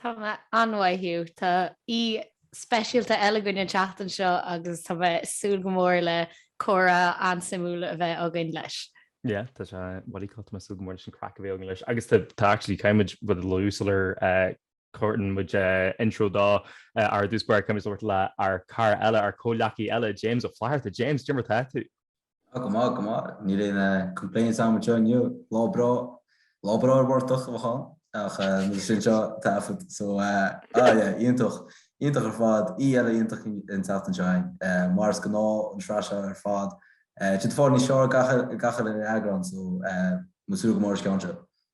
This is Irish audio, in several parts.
Tá mé an-mhaith, Hugh. Tá aoi speisialta eile againn an tseachtain seo agus tá mé ag súil go mór le comhrá an-suimiúil a bheith againn leis. Yeah, tá sé really cool. Tá mé ag súil go mór leis an craic a bheidh againn leis agus tá, tá actually, caithfimid rud a luadh sular cuireann muid intro dó. Ar dtús báire, caithfimid labhairt le ár cara eile, ár comhghleacaí eile, James Ó Flatharta. James, cad é mar atá tú. Go maith, go maith. Níl aon complaints agam anseo inniu. Lá breá, lá breá ar an bportach, a mhac bán. Ach muide anseo ag taifead. So, ah yeah, iontach, iontach ar fad. Aoi eile iontach an tseachtain seo againn. Mar is gnáth an sraith seo ar fad. Tá sí ag fáil níos fearr gach uile eagrán, so, mé ag súil go mór leis an gceann seo.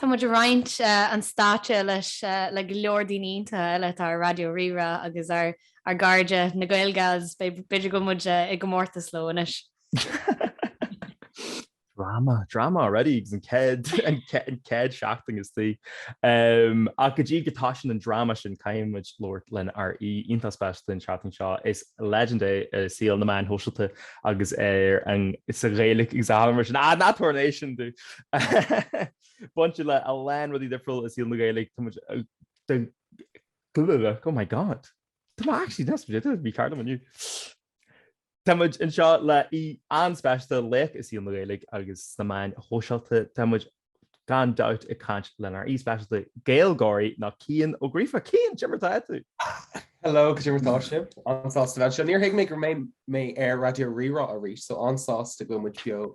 Tá muid ag roinnt an stáitse leis le go leor daoine iontacha eile atá ar Raidió Rí-Rá agus ar Gairde na Gaeilge agus b'fhéidir go bhfuil muid i gcomórtas leo anois. Drama, drama already agus an céad, an céad, an céad seachtain istigh. Ach go dtí go dtosaíonn an drama sin caithfidh muid labhairt lenár aoi iontach speisialta an seachtain seo. Is legend é i saol na meáin shóisialta agus ar an, sa Ghaeilic agus a hamharc mar sin. Ah, ná tabhair notion dó! Bainte le a lán rudaí difriúla i saol na Gaeilge, tá muid ag, oh my God, tá mé actually deas muid ag, mícheart liom inniu. Tá muid anseo le aoi an-speisialta, laoch i saol na Gaeilge agus sna meáin shóisialta, tá muid gan dabht ag caint lenár aoi speisialta Gaylgeoirí ná Cian Ó Gríofa. Cian, cad é mar atá tú? Hello, cad é mar atá sibh? An-sásta bheith anseo. Níor thuig mé go mbeidh mé ar Raidió Rí-Rá arís, so an-sásta go bhfuil muid beo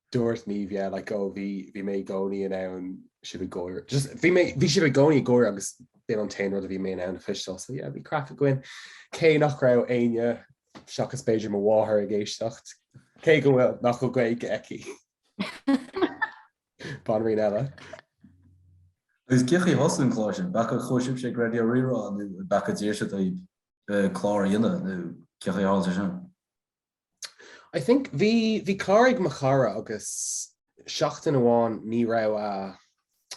Dúirt Niamh, Yeah, like, oh, bhí, bhí mé i gcónaí in ann sibh ag gáire, just, bhí mé, bhí sibh i gcónaí ag gáire agus b'in an t-aon rud a bhí mé in ann a chloisteáil, so yeah, bhí craic againn. Cé nach raibh éinne, seachas b'fhéidir mo mháthair, ag éisteacht, cé go bhfuil, nach bhfuil Gaeilge aici. Banríon eile. Agus cén chaoi ar thosaigh an clár sin, b'é an chaoi a chuaigh sibhse ag Raidió Rí-Rá nó b'é an chaoi a d'iarr siad daoib clár a dhéanamh nó cén chaoi ar tharla sé sin. I think bhí bhí clár ag mo chara agus seachtain amháin ní raibh a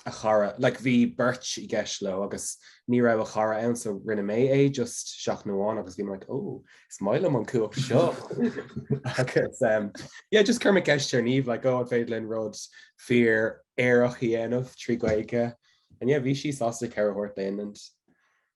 a chara like bhí beirt i gceist leo agus ní raibh a chara ann so rinne mé é just seachtain amháin agus bhí mé like oh is maith liom an cumhacht seo agus um yeah just chuir mé ceist ar Niamh like oh an féidir linn rud fíor aerach a dhéanamh trí Gaeilge and yeah bhí sí sásta cead a thabhairt dúinn.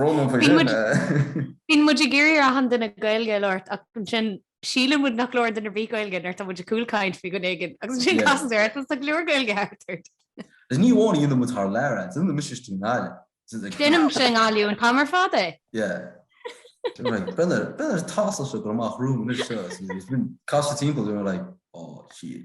Bíonn muid ag iarraidh ar achan duine Gaeilge a labhairt ach ansin síleann muid nach labhrann duine ar bith Gaeilge nuair atá muid ag cúlchaint faoi dhuine éigin agus ansin casann thart tá go leor Gaeilge thart ort. Is ní amháin a dhéanann muid thar lear é, déanann mise istigh i nGaillimh. Déanaimse i nGaillimh an t-am ar fad é. Yeah. Bíonn ar tasamh seo ag goil amach romham anois seo is bím ag casadh timpeall go raibh mé like, oh shit.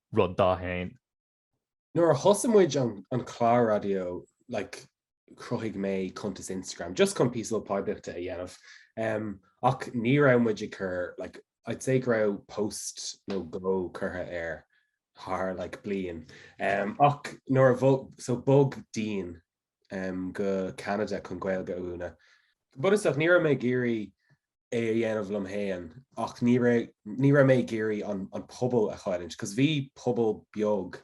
rud d'aon. Nuair a thosaigh muid an clár raidió like chruthaigh mé cuntas Instagram just chun píosa poiblíochta a dhéanamh ehm ach ní raibh muid ag cur like I'd say go raibh post nó dhó curtha air thar like bliain ehm ach nuair a bhog so bhog Dean go Ceanada chun Gaeilge a mhúineadh. Go bunúsach, ní raibh mé ag iarraidh é a dhéanamh liom féin ach ní raibh ní raibh mé ag iarraidh an pobal a chailliúint cos bhí pobal beag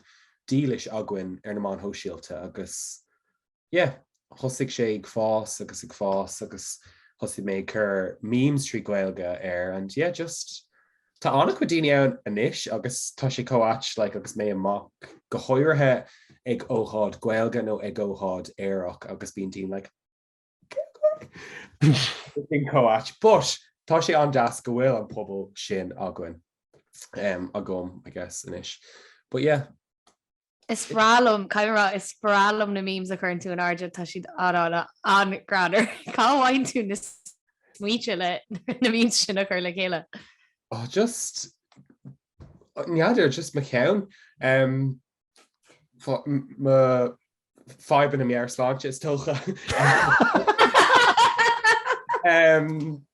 dílis againn ar na meáin shóisialta agus yeah thosaigh sé ag fás agus ag fás agus thosaigh mé ag cur memes trí Gaeilge air and yeah just Tá an-chuid daoine ann anois agus tá sé chomh ait like agus mé amach, go háirithe ag ócáid Gaeilge nó ag ócáid aerach agus bíonn daoine like chomh ait but tá sé an-deas go bhfuil an pobal sin againn, agam, I guess, anois. But yeah. Is breá liom, caithfidh mé a rá, is breá liom na memes a chuireann tú in airde, tá siad an-dána, an-ghreannmhar. Cá bhfaigheann tú na smaointe leis na memes sin a chur le chéile? Oh just, n'fheadar, just mo cheann. Mo fhadhbanna meabhairshláinte is dócha.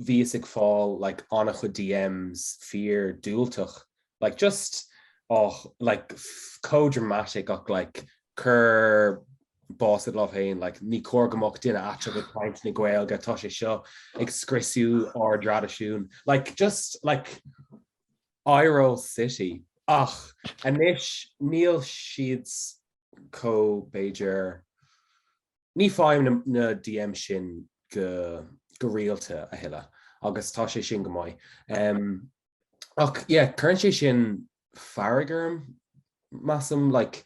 bhíos ag fáil like an-chuid DMs fíordhiúltach, like just oh like pff chomh dramatic ach like cuir bás id lámh féin, like ní cóir go mbeadh duine aiteach ag caint na Gaeilge, tá sé seo ag scriosadh ár dtraidisiún, like just like iro city. Ach anois níl siad chomh b'fhéidir Ní faighim na DMs sin go rialta a thuilleadh agus tá sé sin go maith. Ach yeah cuireann sé sin fearg orm measaim like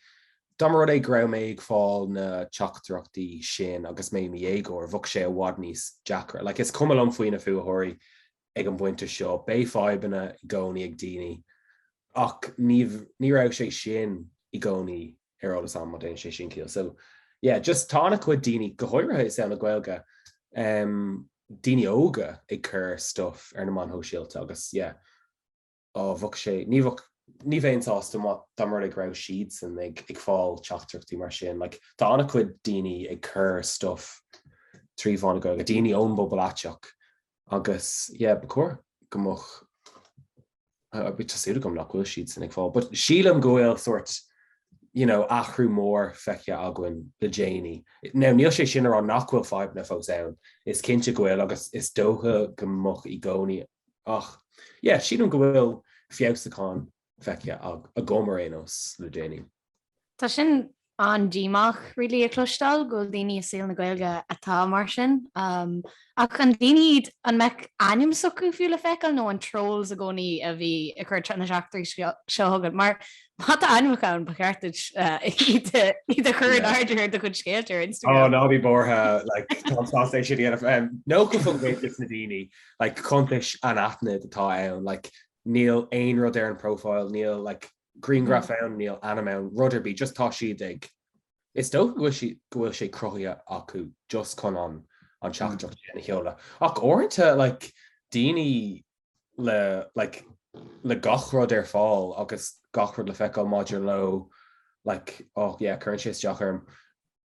dá mba rud é go raibh mé ag fáil na teachtaireachtaí sin agus mé i mo dhéagóir, bheadh sé i bhfad níos deacra like. Is cuma liom faoi na fuathóirí, Ag an bpointe seo, beidh fadhbanna i gcónaí ag daoine, ach ní raibh sé sin i gcónaí ar eolas agam, má dhéanann sé sin ciall. So yeah, just tá an-chuid daoine, go háirithe i saol na Gaeilge, daoine óga ag cur stuff ar na meáin shóisialta agus yeah. bheadh sé, ní bheadh, ní bheinn sásta dá mba rud é go raibh siadsan ag fáil teachtaireachtaí mar sin, like, tá ana chuid daoine ag cur stuff trí mheán na Gaeilge, daoine ón bpobal aiteach agus yeah, ba chóir go mbeadh, I mean, tá súil agam nach bhfuil siadsan ag fáil, but sílim go bhfuil sort, you know, athrú mór feicthe againn le déanaí. Now, níl sé sin a rá nach bhfuil fadhbanna fós ann, is cinnte go bhfuil agus is dócha go mbeadh i gcónaí Ach yeah, sílim go bhfuil feabhsúcháin feicthe agam ar aon nós le déanaí. Tá sin an-díomách really a chloisteáil go bhfuil daoine i saol na Gaeilge atá mar sin. Ach an daoine iad, an mbeadh ainm s'acu fiú le feiceáil nó an trolls i gcónaí a bhí ag cur na dteachtaireachtaí seo chugat? Mar má tá ainmneacha ann ba cheart duit iad a chur in airde ar do chuid scéalta ar Instagram. Oh ná bí buartha like táim tar éis é sin a dhéanamh. Nó go bhfuil réiteach na daoine Like cuntais anaithnid atá ann, like níl aon rud ar an profile, níl like grianghraf ann, níl ainm ann, rud ar bith, just tá siad ag, is dócha go bhfuil, go bhfuil sé cruthaithe acu just chun an, an teachtaireacht sin a sheoladh. Ach uaireanta like daoine le, like le gach rud ar fáil agus gach rud le feiceáil maidir leo, like, oh yeah, cuireann sé isteach orm.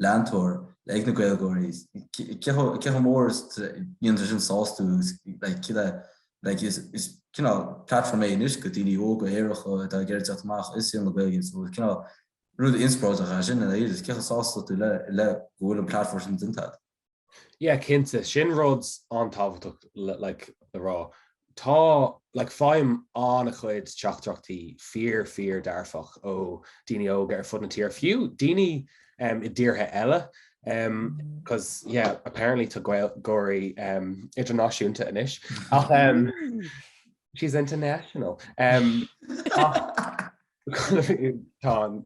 leantóir le ag na Gaylgeoirí. Cé chomh mór is atá sé sin sástúil is like cad é like is is cineál platform é anois do dhaoine óga aeracha atá ag iarraidh teacht amach i saol na Gaeilge so is cineál rud inspioráideach é sin ina dhiaidh is cé chomh sásta atá tú le go bhfuil an platform sin déanta agat. Yeah cinnte, sin rud an-tábhachtach like le rá. Tá like faighim an-chuid teachtaireachtaí fíor fíor dearfach ó daoine óga ar fud na tíre, fiú daoine um i dtíortha eile um cos yeah apparently tá Gaylgeoirí um idirnáisiúnta anois ach um she's international um ach Tá,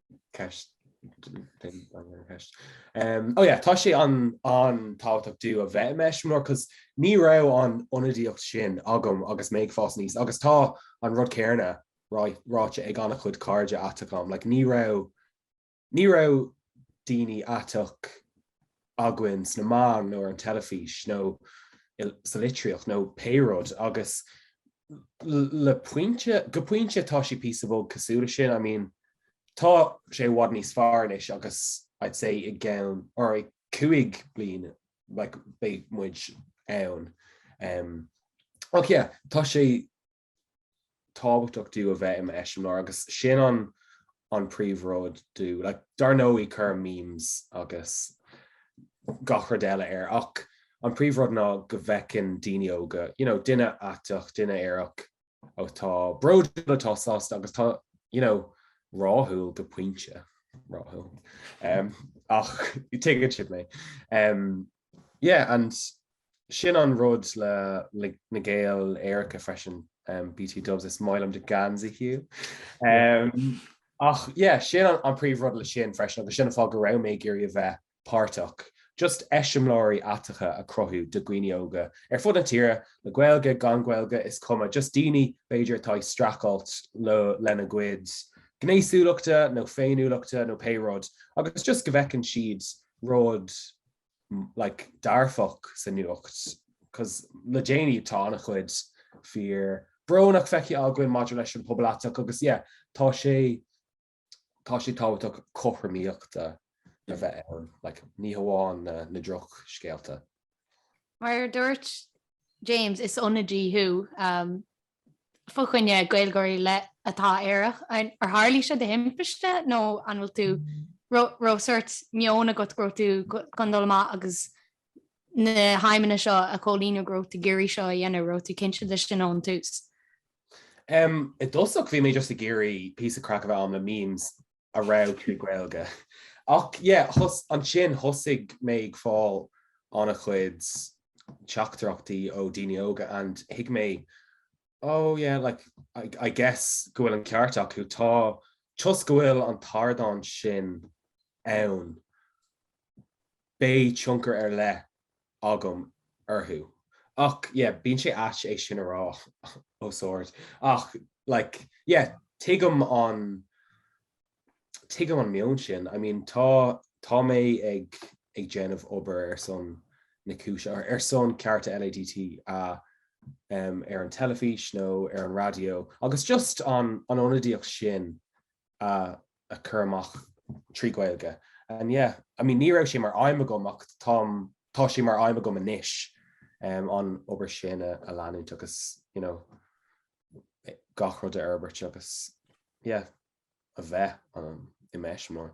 oh yeah, tá sé an-tábhachtach dom a bheith mise mar cos ní raibh an ionadaíocht sin agam agus mé ag fás aníos agus tá an rud céanna ráite ag an-chuid cairde aiteach agam, like, ní raibh Ní raibh daoine aiteach againn sna meáin nó ar an teilifís nó sa litríocht nó pé rud agus le pointe, go pointe tá sé píosa beag cosúil le sin, I mean, tá sé i bhfad níos fearr anois agus I'd say i gceann, er, cúig bliain like beidh muid ann. Ach yeah, tá sé. tábhachtach dom a bheith i m'eiseamláir agus sin an an príomh rud dom. Like dar ndóigh cuirim memes agus gach rud eile air ach an príomh rud ná go bhfeiceann daoine óga, you know, duine aiteach, duine aerach atá bródúil atá sásta agus tá, you know, rathúil go pointe, rathúil, em, ach tuigeann siad mé. Em. Yeah and sin an rud le like, Na Gaeil Aeracha freisin um, BT dubs is maith liom do gheansaí Hugh. Um, ach yeah, sin an, an príomh rud le sin freisin agus sin an fáth go raibh mé ag iarraidh a bheith páirteach. Just eiseamláirí aiteacha a chruthú do dhaoine óga ar fud na tíre le Gaeilge gan Gaeilge is cuma just daoine b'fhéidir atá ag streachailt le lena gcuid gnéasúlachta nó féiniúlachta nó pé rud agus just go bhfeiceann siad rud like dearfach sa nuacht 'cause le déanaí tá an-chuid fíorbhrónach feicthe againn maidir leis an pobal aiteach agus yeah tá sé tá sé tábhachtach cothromaíocht a bheith ann like ní hamháin na, na drochscéalta. Mar a dúirt James, is ionadaí thú. Um, fá choinne Gaeilgeoirí le atá aerach? Ar tharlaigh seo de thimpiste nó an bhfuil tú raibh sórt meon agat go raibh tú chun dul amach agus na haidhmeanna seo a chomhlíonadh go raibh tú ag iarraidh seo a dhéanamh, raibh tú cinnte de sin ón tús? I dtosach bhí mé just ag iarraidh píosa craic a bheith agam le memes a raibh acu Gaeilge. Ach yeah, ansin thosaigh mé ag fáil an-chuid teachtaireachtaí ó daoine óga and thuig mé, oh yeah, like I guess go bhfuil an ceart acu, tá, just go bhfuil an t-ardán sin ann. beidh tionchar ar leith agam orthu. Ach yeah, bíonn sé ait é sin a rá os ard. Ach like yeah, tuigim an, tuigim an meon sin. I mean tá, tá mé ag, ag déanamh obair ar son na cúise, or ar son cearta LADTA, um, ar an teilifís nó ar an raidió, agus just an, an ionadaíocht sin a chur amach trí Ghaeilge. And yeah, I mean, ní raibh sé mar aidhm agam ach táim, tá sé mar aidhm agam anois an obair sin a leanúint agus, you know, gach rud a fhorbairt agus, yeah, a bheith i measc, mór.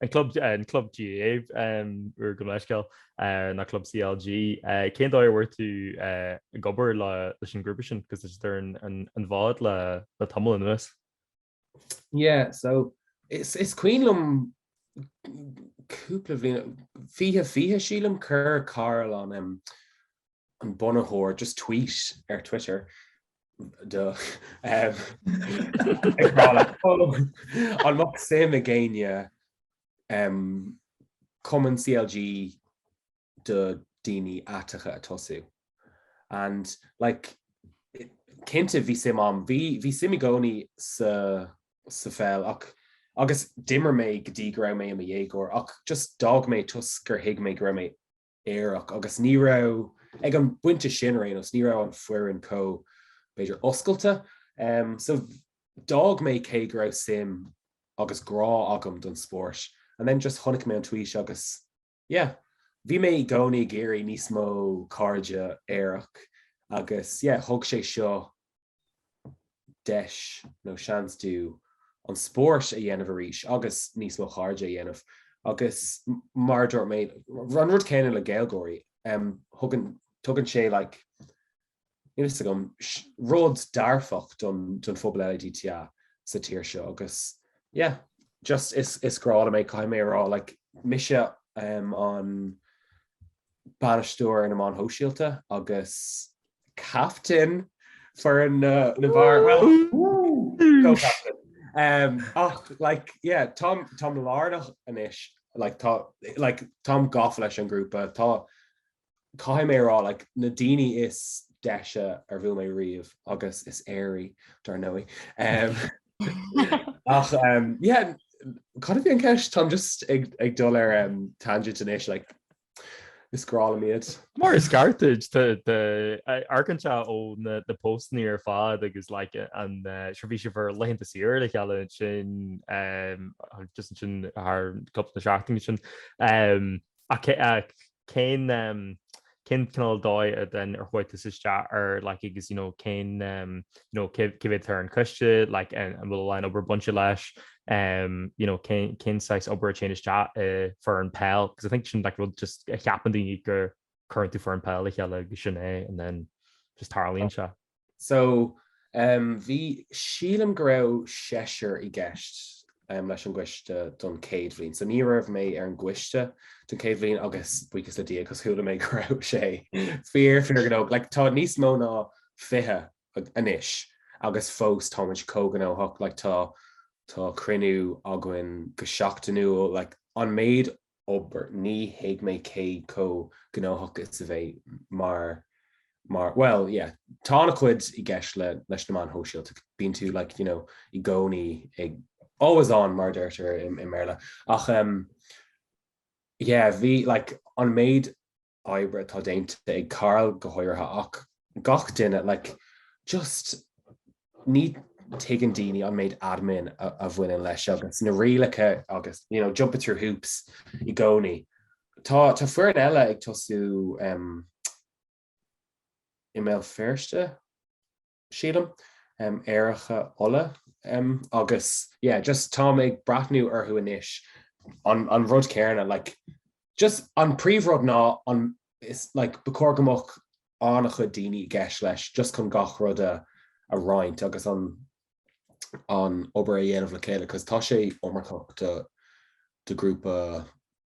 An club an club GAA úr gabh mo leithscéal na club CLG. Cén dóigh a bhfuair tú ag obair leis an grúpa sin 'cause is iad ar an bhfód le le tamall anuas? Yeah, so is cuimhin liom cúpla bhliain, 2020 sílim, chuir Karl an an bunaitheoir just tweet ar Twitter do an mbeadh suim ag éinne cumann CLG do daoine aiteacha a tosú. And like cinnte bhí suim agam bhí suim i gcónaí sa sa pheil ach agus d'imir mé go dtí go raibh mé i mo dhéagóir ach just d'fhág mé toisc gur thuig mé go raibh mé aerach agus ní raibh, ag an bpointe sin ar aon nós, ní raibh an foireann chomh, b'fhéidir, oscailte. So d'fhág mé cé go raibh suim agus grá agam don spórt and then just chonaic mé an tweet agus yeah, bhí mé i gcónaí ag iarraidh níos mó cairde aerach agus yeah, thug sé seo deis nó seans dom an spórt a dhéanamh arís agus níos mó cairde a dhéanamh agus mar a dúirt mé, an rud céanna le Gaeilgeoirí, thugann, tugann sé like, níl fhios agam, rud dearfach don, don phobal LADTA sa tír seo agus yeah. Just is, is grá liom é, caithfidh mé a rá, like, mise um, an, bainisteoir ar na meáin shóisialta agus captaen foireann na bhfear, bhuel, co-captaen. Ach, like, yeah, táim, táim lárnach anois, like, tá, like, táim gafa leis an ghrúpa, tá, caithfidh mé a rá, like, na daoine is deise ar bhuail mé riamh, agus is aeraí, dar ndóigh. Ach, yeah, cad a bhí an ceist? Táim just ag, ag dul ar, um, tangent anois, like, Is grá liom iad. Mar is ceart duit amharcann tú ó na postanna ar fad agus ansin bhí sibh ar laethanta saoire le chéile ansin just ansin thar cúpla na seachtain ó shin. Ach cén cén cineál dóigh a den ar chuaigh tú isteach ar like agus you know cén nó cé mhéad atá ar an coiste, like, an bhfuil a lán obair bainte leis, um, you know, cén saghas obair a téann isteach i foireann peil, because I think sin like, rud just a cheapann daoine gur chuireann tú foireann peil le chéile agus sin é and then just tarlaíonn sé. So um, bhí sílim go raibh seisear i gceist um, leis an gcoiste don céad bhliain. So ní raibh mé ar an gcoiste don céad bhliain agus buíochas le Dia cos chuala mé go raibh sé fíor fíor go like, tá níos mó ná 20 anois agus fós táimid chomh gnóthach like tá tá cruinniú againn go seachtainiúil like an méid obair ní thuig mé cé chomh gnóthach is a bheidh mar mar well yeah tá an-chuid i gceist le leis na meáin shóisialta bíonn tú like you know i gcónaí ag always on mar deirtear i, i mBéarla ach um, yeah bhí like an méid oibre atá déanta ag Karl go háirithe ach gach duine, like, just ní thuigeann daoine an méid admin a bhaineann leis agus na rialacha agus, you know, jumping through hoops i gcónaí. Tá foireann eile ag tosú i mBéal Feirste. sílim, Aeracha Uladh agus yeah, just tá mé ag breathnú orthu anois an, an rud céarna like, just an príomh rud ná an is like, ba chóir go mbeadh an-chuid daoine i gceist leis just chun gach rud a, a roinnt agus an, an obair a dhéanamh le chéile cos tá sé iomarcach do, do ghrúpa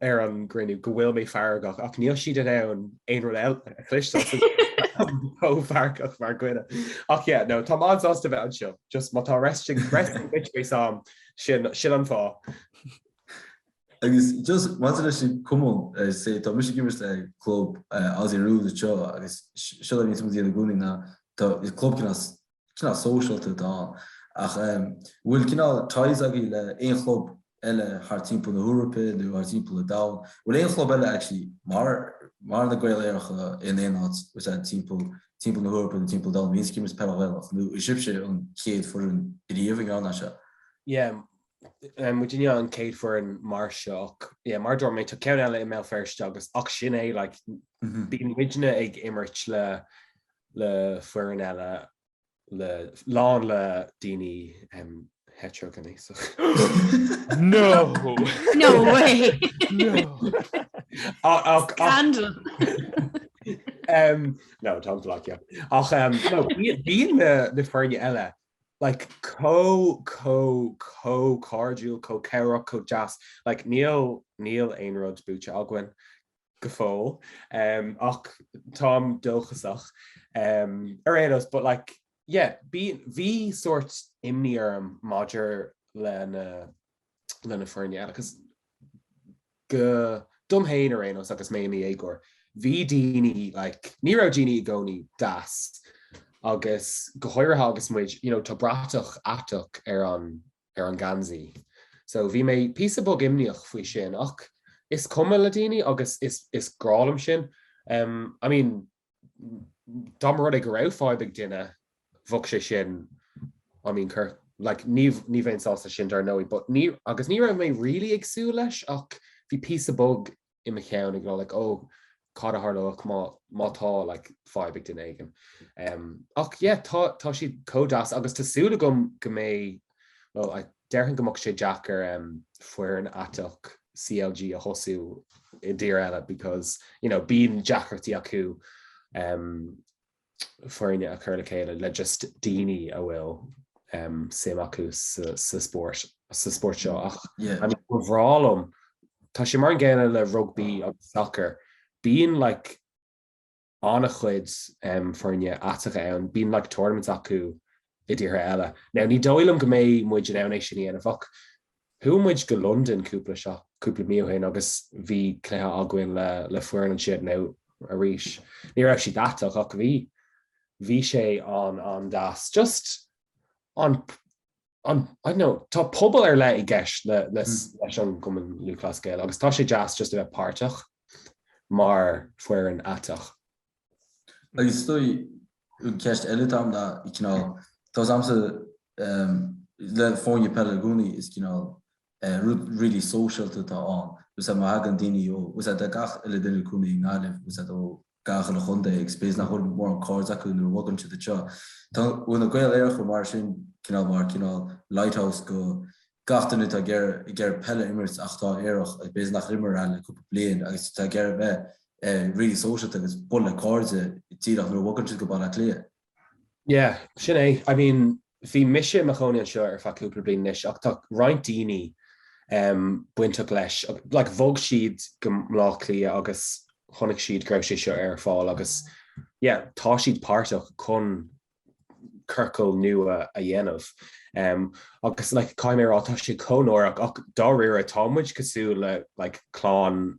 ar an gcruinniú go bhfuil mé feargach ach níl siad in ann aon rud eile a chloisteáil. Chomh feargach mar dhuine. Ach yeah, no, tá mé sásta bheith anseo, just má tá resting bitch face orm sin an fáth. Agus just maidir leis an gcumann, mar sé, tá mise ag imirt le club Aussie Rules anseo agus sé a bhíos muid a dhéanamh i gcónaí ná tá club cineál cineál sóisialta atá ann. Ach an bhfuil cineál ties agaibh le aon chlub eile thart timpeall na hEorpa nó thart timpeall an domhain? Bhfuil aon chlub eile actually mar mar na Gaeil Aeracha in aon áit ús ag timpeall timpeall na hEorpa nó timpeall an domhain a bhíonns ag imirt peil Ghaelach nó an sibhse an chéad fhoireann riamh ag déanamh seo? Yeah, muidne an chéad fhoireann mar seo ach yeah mar a dúirt mé tá ceann eile i mBéal Feirste agus ach sin é like bíonn muidne ag imirt le le foirne eile lán le daoine hetero gcónaí No No way No táim ag slagging ach bíonn na foirne eile like, chomh, chomh, chomh cairdiúil, chomh cabhrach, chomh deas, like, níl, níl aon rud buaite againn, go fóill, em, ach táim dóchasach, em, ar aon nós, but like, yeah, bíonn, bhí sórt imní orm maidir le na. leis na foirne eile. Agus dom féin ar aon nós agus mé i mo dhéagóir, bhí daoine, like, ní raibh daoine i gcónaí deas agus go háirithe agus muid, you know, tá bratach aiteach ar an, ar an ngeansaí. So bhí mé píosa beag imníoch faoi sin ach is cuma le daoine agus is, is breá liom sin. Um, I mean, dá mba rud é go raibh fadhb ag duine, bheadh sé sin, I mean, cur, like, ní, ní bheinn sásta sin, dar ndóigh, but ní, agus ní raibh mé really ag súil leis, ach bhí píosa beag i mo cheann ag rá, like, oh, cad a tharlódh má, má tá, like, fadhb ag duine éigin. Ach, yeah, tá, tá siad chomh deas, agus tá súil agam go mbeidh, well, I, Déarfainn go mbeadh sé deacair foireann aiteach CLG a thosú i dtír eile because you know bíonn deacrachtaí acu foirne a chur le chéile le just daoine a bhfuil suim acu sa spórt sa spórt seo ach yeah. I mean, ba bhreá liom tá sé mar an gcéanna le rugbaí agus soccer bíonn like an-chuid foirne aiteacha ann, bíonn like tournaments acu i dtíortha eile. Now ní dóigh liom go mbeidh muid in ann é sin a dhéanamh ach chuaigh muid go Londain cúpla seo, cúpla mí ó shin agus bhí cluiche againn le le foireann ansiúd. Now arís, ní raibh siad aiteach ach bhí bhí sé an an deas, just an Tá pobal ar leith i gceist leis an gCumann Lúthchleas Gael agus tá sé deas just a bheith páirteach mar foireann aiteach. Agus is dóigh, ceist eile atá ann ná cineál, domsa le foirne peile i gcónaí, is cineál rud really sóisialta atá ann, abair má thagann daoine ó, is ea de gach uile dhuine i gcónaí i nGaillimh, is ea ó gach uile chontae agus b'fhéidir nach bhfuil mórán cairde acu nuair a bhogann siad anseo. An bhfuil na Gaeil Aeracha mar sin cineál mar cineál lighthouse do gach duine atá ag iarraidh ag iarraidh peil a imirt ach atá aerach agus b'fhéidir nár imir le cúpla bliain agus atá ag iarraidh bheith eh, really sóisialta agus bualadh le cairde díreach nuair a bhogann siad go Baile Átha Cliath. Yeah, sin é. I mean, bhí mise i mo chónaí anseo ar feadh cúpla bliain anois ach tá roinnt daoine um bainteach leis like bhog siad go Bleá Cliath agus chonaic siad go raibh sé seo ar fáil agus yeah, tá siad páirteach chun ciorcal nua a dhéanamh. Um agus like caithfidh mé a rá tá sé chomh náireach ach dáiríre tá muid cosúil le like clann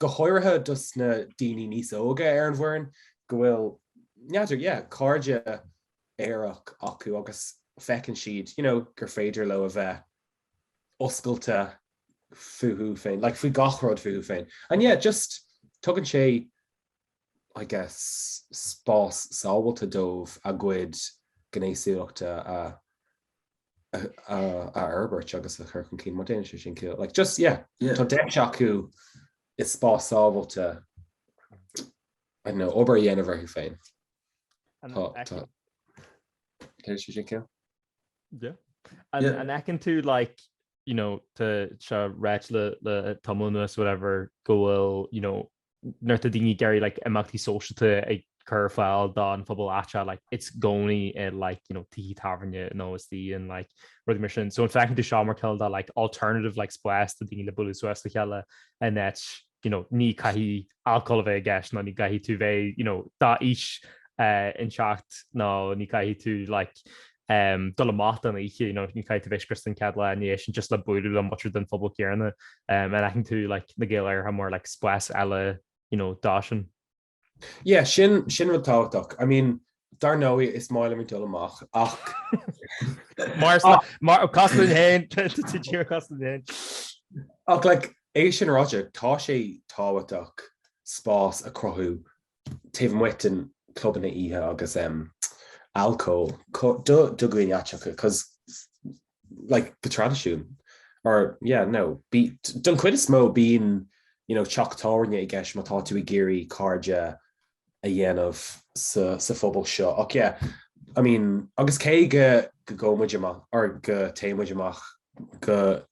go háirithe dos na daoine níos óige ar an bhfoireann, go bhfuil, n'fheadar, yeah, cairde aerach acu agus feiceann siad, you know, gur féidir leo a bheith oscailte fúthu féin, like faoi gach rud fúthu féin. And yeah, just tugann sé. I guess, spás sábhailte dóibh a gcuid gnéasúlachta a a fhorbairt agus a chur chun cinn má dhéanann sé sin ciall. Like just yeah, yeah. Tá deis acu i spás sábhailte obair a dhéanamh orthu féin. Má dhéanann sé sin ciall? Yeah. And, yeah. and an bhfeiceann tú like you know tá sé ráite le tamall anois whatever go bhfuil you know nuair atá daoine ag iarraidh like, imeachtaí sóisialta a chur ar fáil don phobal aiteach, like, it's i gcónaí i like, you know, tithe tábhairne nó istoíche like, rudaí mar sin. So an feiceann tú seo mar cineál de like, alternative like, spás do daoine le bualadh suas le chéile in áit you know, ní chaithfidh alcól a bheith i gceist nó ní chaithfidh tú bheith you know, d'aois éicinteacht nó ní chaithfidh tú like, dul amach don oíche, ní chaithfidh tú bheith scriosta an chéad lá ina dhiaidh sin just le buaileadh le muintir den phobal céanna. An aithníonn tú Na Gaeil Aeracha mar spás eile dó sin? Yeah, sin rud tábhachtach. I mean, dar ndóigh, is maith liom ag dul amach ach. Mar mar is cosúil linn féin, tú tír cosúil linn féin. Ach like, é sin ráite, tá sé tábhachtach spás a chruthú taobh amuigh de na clubanna oíche agus alcól do dhaoine aiteacha cos like go traidisiúnta or yeah nó b- don chuid is mó bíonn you know teach tábhairne i gceist má tá tú ag iarraidh cairde a dhéanamh sa sa phobal seo ach yeah I mean agus cé go go gcóimid amach or go téimid amach go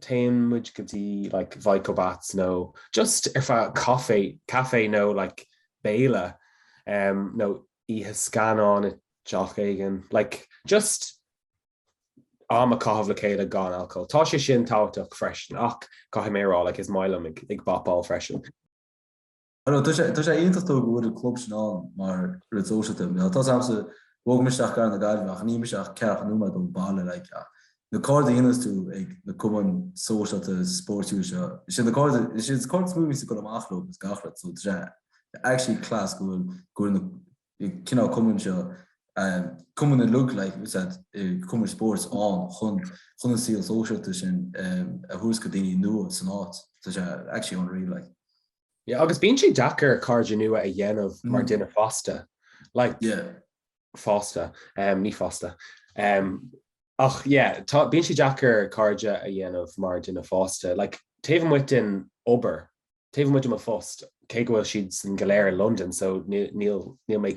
téann muid go dtí like Vico Baths nó just ag fáil caife, caife nó like béile um nó oíche scannáin i dteach éigin, like just am a chaitheamh le chéile gan alcól. Tá sé sin tábhachtach freisin ach caithfidh mé a rá like is maith liom ag ag bapáil freisin. Tá sé iontach dóibh go bhfuil an club sin ann mar rud sóisialta. Tá sé domsa, bhog mé isteach go cathair na Gaillimhe ach níl mé ach ceathracha nóiméad ón baile like ach na cairde a dhéananns tú ag na cumainn sóisialta spóirtíúla seo, is iad na cairde, is iad cairde is mó a bhíos tú ag dul amach leo is gach rud so tá sé actually class go bhfuil, go bhfuil na cineál cumainn seo, cumainn a look like you said cumainn spóirt ann chun chun an saol sóisialta sin a thabhairt do daoine nua san áit, tá sé actually unreal like. Yeah agus bíonn sé deacair cairde nua a dhéanamh mar duine fásta, like, yeah, fásta, um, ní fásta, um, ach yeah, tá, bíonn sé deacair cairde a dhéanamh mar duine fásta, like, taobh amuigh den obair, taobh amuigh de mo phost, cé go bhfuil siad san go léir i Londain so níl, níl mé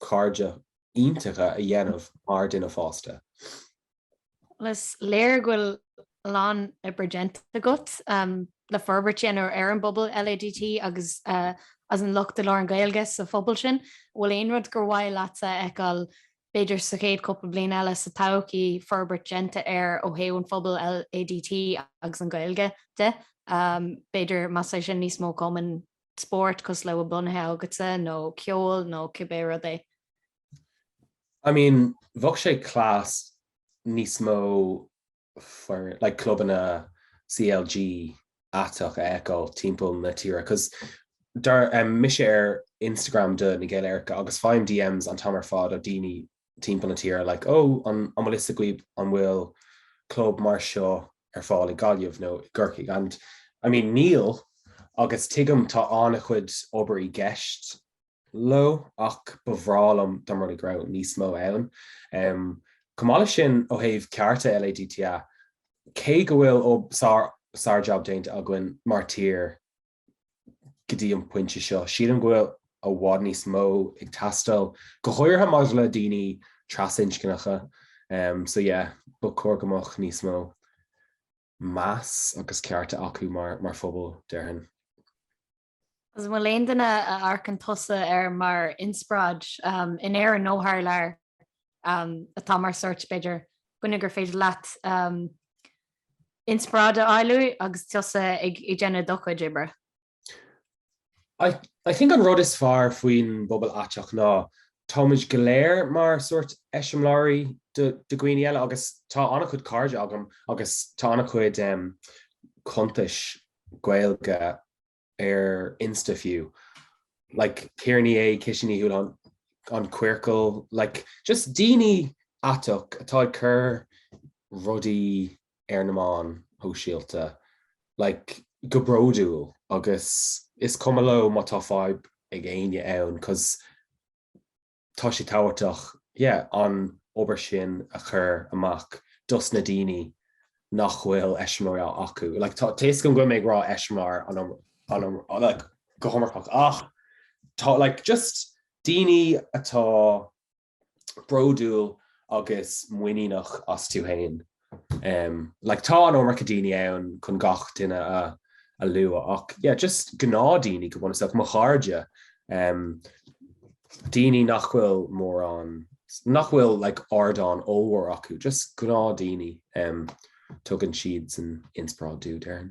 cairde iontacha a dhéanamh mar dhuine fásta. Is léir go bhfuil a lán oibre déanta agat le forbairt a dhéanamh ar an bpobal LADT agus ansin lucht labhartha na Gaeilge sa phobal sin. An bhfuil aon rud gur mhaith leatsa a fheiceáil b'fhéidir sa chéad chúpla bliain eile sa todhchaí, forbairt déanta air ó thaobh an phobail LADT agus an Ghaeilge de, b'fhéidir más é sin níos mó cumainn spóirt cosúil le atá bunaithe agatsa nó ceol nó cibé rud é? I mean, bheadh sé class níos mó foireann, like clubanna CLG aiteach a fheiceáil timpeall na tíre cos tá mise ar Instagram do Na Gaeil Aeracha agus faighim DMs an t-am ar fad ó daoine timpeall na tíre, like, oh, an bhfuil fhios agaibh an bhfuil club mar seo ar fáil i Gaillimh nó i gCorcaigh? And, I mean, níl, agus tuigim tá an-chuid obair i gceist leo, ach ba bhreá liom dá mba rud é go raibh níos mó ann. Chomh maith leis sin, ó thaobh cearta LADTA, cé go bhfuil sár-jab déanta againn mar tír, go dtí an pointe seo. Sílim go bhfuil i bhfad níos mó ag teastáil, go háirithe maidir le daoine trasinscneacha. Um, so yeah, ba chóir go mbeadh níos mó meas agus cearta acu mar, mar phobal, déarfainn. Agus bhfuil aon duine a amharcann tusa air mar inspioráid um, in Éirinn nó thar lear um, atá mar sórt b'fhéidir duine gur féidir leat um, inspioráid a fháil uaidh agus tusa ag déanamh do chuid oibre? I think an rud is fearr faoin bpobal aiteach ná táimid go léir mar sórt eiseamláirí do dhaoine eile agus tá an-chuid cairde agam agus tá an-chuid cuntais Gaeilge ar insta fiú like Ciara Ní É, Kitty Ní Houlihán, An Queercal, like just daoine aiteach atá ag cur rudaí ar na meáin shóisialta like go bródúil agus is cuma leo má tá fadhb ag éinne ann 'cause tá sé tábhachtach yeah an obair sin a chur amach dos na daoine nach bhfuil eiseamláir acu. Like tá a fhios agam go bhfuilim ag rá eiseamláir an an like, go hiomarcach ach tá like, just daoine atá bródúil agus muiníneach astu féin. Like tá an iomarca daoine ann chun gach duine a a lua ach yeah, just gnáthdaoine go bunúsach mo chairde um, daoine nach bhfuil mórán nach bhfuil like, ardán ollmhór acu, just gnáthdaoine um, tugann siadsan inspioráid dom déarfainn.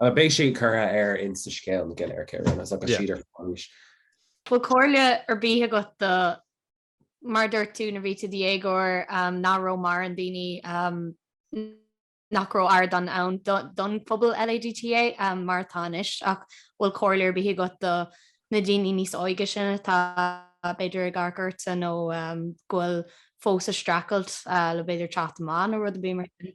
Beidh sé curtha ar Instascéal Na Gaeil Aeracha anois agus siad ar fáil arís. Bhfuil comhairle ar bith agat do, mar a dúirt tú, nuair a bhí tú i do dhéagóir nach raibh mórán daoine nach raibh ardán ann don phobal LADTA mar atá anois ach bhfuil comhairle ar bith agat do na daoine níos óige sin atá b'fhéidir ag amharc ortsa nó go bhfuil fós ag streachailt le b'fhéidir teacht amach nó rud ar bith mar sin?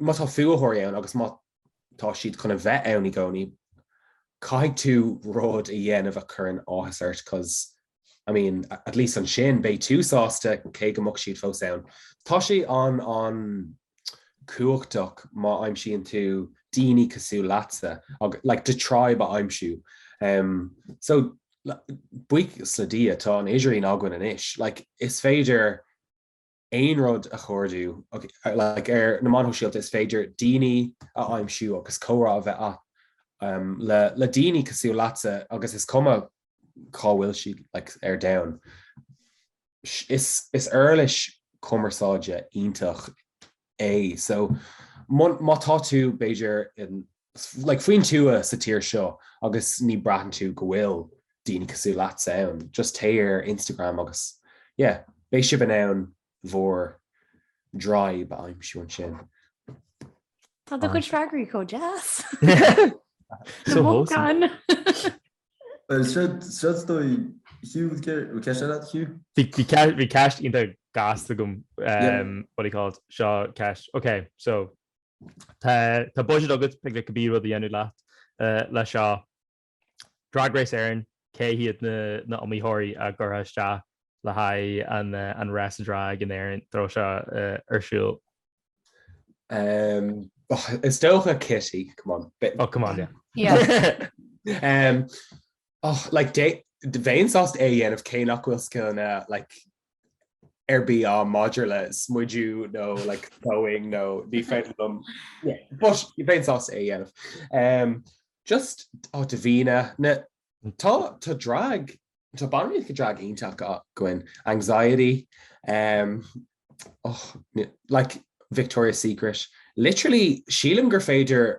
Má tá fuathóirí ann agus má tá siad chun a bheith ann i gcónaí, caithfidh tú rud a dhéanamh a chuireann áthas ort cos I mean, at least ansin, beidh tú sásta, cé go mbeadh siad fós ann. Tá sé an an cumhachtach má aimsíonn tú daoine cosúil leatsa, agus like the tribe a aimsiú. Umm so like buíochas le Dia tá an t-idirlíon againn anois, like is féidir aon rud a chuardú like ar na meáin shóisialta is féidir daoine a aimsiú agus comhrá a bheith le le daoine cosúil leatsa agus is cuma cá bhfuil siad ar domhan. Is uirlis cumarsáide iontach é. So má tá tú b'fhéidir like faoin tuath sa tír seo agus ní braitheann tú go bhfuil daoine cosúil leatsa ann, just téigh ar Instagram agus yeah, beidh sibh in ann bhur draíb a aimsiú ansin. Tá do chuid freagraí chomh deas. So wholesome. Well, siad, siad stoi, Hugh, would care, would care that, Hugh? Bhí bhí ce- bhí ceist iontach deas agam, Yeah. um, what do you call it, seo ceist. Okay, so Tá budget agat le cibé rud a dhéanamh leat le seo. Drag Race Éireann, cé hiad na h-iomaitheoirí a gcuirfeá isteach le haghaidh an rása drag in Éirinn dá mbeadh sé seo ar siúl? Is dócha Kitty, come on. Oh come on yeah. Like bheinn sásta é a dhéanamh cé nach bhfuil scileanna like ar bith agam maidir le smideadh nó like sewing nó faisean but bheinn sásta é a dhéanamh. Just á Davina na tá tá drag tá banríonacha drag iontach, Anziety um, oh, like Victoria's Secret. Literally sílim gur féidir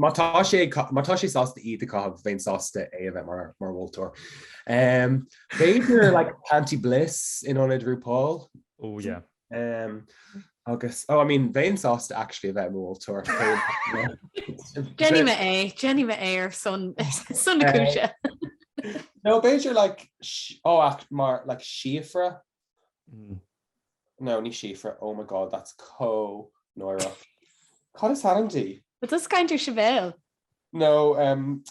Má tá sé ag ca-, má tá sé sásta iad a caitheamh, bheinn sásta é a bheith mar, mar mholtóir. Em, b'fhéidir, like, Panti Bliss in ionad RuPaul. Ó, yeah. Em, agus, oh, I mean, bheinn sásta, actually, a bheith mar mholtóir. Déanfaidh mé é, déanfaidh mé é ar son, son na cúise. No, b'fhéidir, like, sh- oh, act- mar, like, Síofra, No, ní Síofra, oh my God, that's co náireach. Cad is ainm di? An cainteoir, Sibéal? No, um.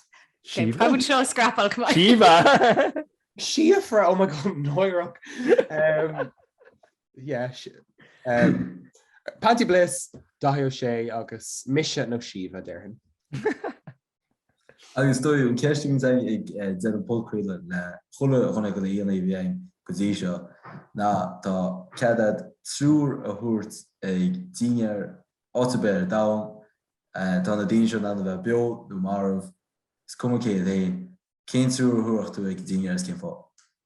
Síofra? Táim chun seo a scrapáil come on. Síomha! Síofra, oh my God, náireach. Um, yeah, si- um, Panti Bliss, Daithí Ó Sé agus mise nó Síomha, déarfainn. Agus tá an cheist againn ag déanamh podchraoladh le chuile dhuine de na aíonna a bhí ann go dtí seo ná tá cead agat triúr a thabhairt ag dinnéar áit ar bith ar domhan. Tá na daoine seo in ann a bheith beo nó marbh, is cuma cé iad féin. Cén triúr a thabharfá tú ag an dinnéar is cén fáth?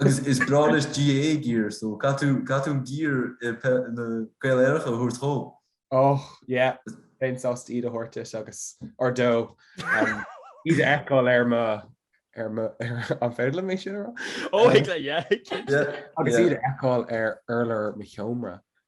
Agus is breá leis GAA gear, so caithfidh tú, caithfidh tú an gear ó na Gaeil Aeracha a thabhairt dhó. Oh, yeah, bheinn sásta iad a thabhairt duit agus, or dó, um, iad a fheiceáil ar mo, ar mo, ar, an féidir liom é sin a rá? Oh, thig leat, yeah, thig leat. Yeah, yeah. Agus iad a fheiceáil ar urlár mo sheomra.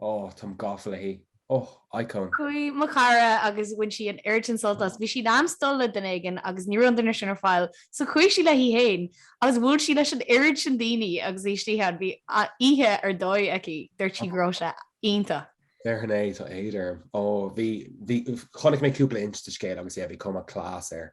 oh, táim gafa léi. oh, icon. Chuaigh mo chara agus bhain sí an oiread sin sult as. Bhí sí in ainm is dul le duine éigin agus ní raibh an duine sin ar fáil so chuaigh sí léi féin agus bhuail sí leis an oiread sin daoine agus í istigh ann. Bhí oíche ar dóigh aici. Dúirt sí go raibh sé iontach. Déarfainn é, tá éad orm. Oh, bhí, bhí, chonaic mé cúpla Insta scéal agus yeah, bhí cuma class air.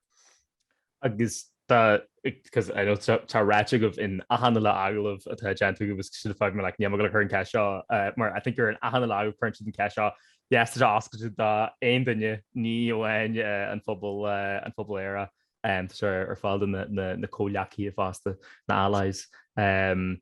Agus tá, because I know tá sé ráite agaibh in achan uile agallamh atá déanta agaibh, so fágfaidh mé like, níl mé ag gabháil a chur an cheist seo, uh, mar I think ar an achan uile agallamh cuireann siad an ceist seo, yes, tá sé oscailte do aon duine, ní amháin uh, an phobal, uh, an phobal Éire, um, tá sé ar fáil do na, na, na comhleacaithe fosta, na allies. Um,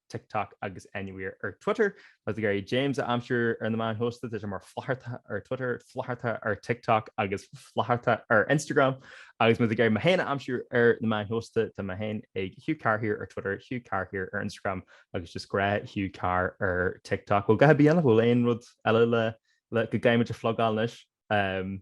TikTok agus Anywhere ar Twitter. Má tá tú ag iarraidh James a aimsiú ar na meáin shóisialta tá sé mar Flaitheartha ar Twitter, Flaitheartha ar TikTok agus Flaitheartha ar Instagram. Agus má tá tú ag iarraidh mé féin a aimsiú ar na meáin shóisialta tá mé féin ag Hugh Carr here ar Twitter, Hugh Carr here ar Instagram agus just gnáth Hugh Carr ar TikTok. Bhuel, cibé? Bhfuil aon rud eile go gcaithfimid a phlugáil anois?